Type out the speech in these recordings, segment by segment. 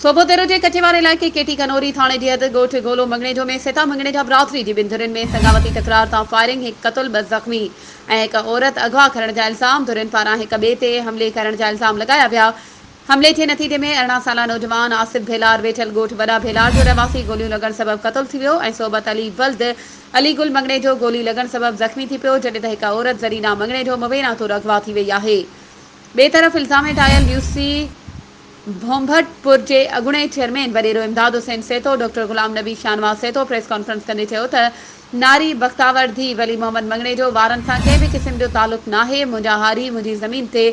صوبو تر جي ڪچي واري علائقي ڪي ٽي ڪنوري ٿاڻي جي حد ڳوٺ گولو مڱڻيجو ۾ سيتا مڱڻيجا برادري جي ٻن ڌرين ۾ سڱاوتي تڪرار تان فائرنگ هڪ قتل ٻه زخمي ۽ هڪ عورت اغوا ڪرڻ جا الزام ڌرين پاران هڪ ٻئي تي حملي ڪرڻ جا الزام لڳايا ويا حملي جي نتيجي ۾ ارڙهن سالا نوجوان آصف ڀيلار ويٺل ڳوٺ وڏا ڀيلار جو رهواسي گوليون لڳڻ سبب قتل ٿي ويو ۽ صحبت علي ولد علي گل مڱڻيجو گولي لڳڻ سبب زخمي ٿي پيو جڏهن ته هڪ عورت زرينا مڱڻيجو موينا طور اغوا ٿي وئي آهي ٻئي طرف الزام هيٺ آيل يوسي ڀونڀٽپور جي اڳوڻي چيئرمين وڏيرو Imdad Hussain Seetho doctor Ghulam Nabi Shahnawaz Seetho press conference ڪندي چيو ته ناري بختاور ڌي ولي محمد مڱڻيجو وارن سان ڪنهن به قسم جو تعلق ناهي منهنجا هاري منهنجي زمين تي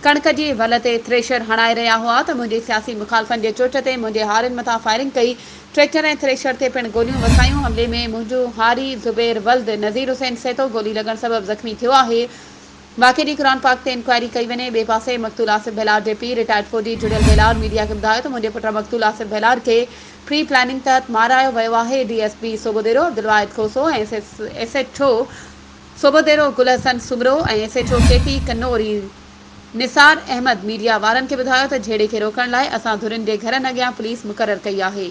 ڪڻڪ جي ول تي ٿريشر هڻائي رهيا هئا ته منهنجي سياسي مخالفن جي چرچ تي منهنجي هارين مٿان فائرنگ ڪئي ٽريڪٽر ۽ ٿريشر تي پڻ گوليون وسايون حملي ۾ منهنجو هاري زبير ولد نذير حسين سيتو گولي لڳڻ سبب زخمي ٿيو آهي واقعي جي قرآن پاڪ تي انڪوائري ڪئي وڃي. ٻئي پاسي مقتول آصف بهلاڙ جي پيء رٽائرڊ فوجي جڙيل بهلاڙ ميڊيا کي ٻڌايو ته منهنجي پٽ مقتول آصف بهلاڙ کي پري پلاننگ تحت مارايو ويو آهي، D S P Sobho Dero Abdul Wahid Khoso ۽ S H O Sobho Dero Gul Hassan Soomro ۽ S H O K T Kunri Nisar Ahmed media وارن کي ٻڌايو ته جهيڙي کي روڪڻ لاء اسان ڌرين جي گهرن اڳيان پوليس مقرر ڪئي آهي.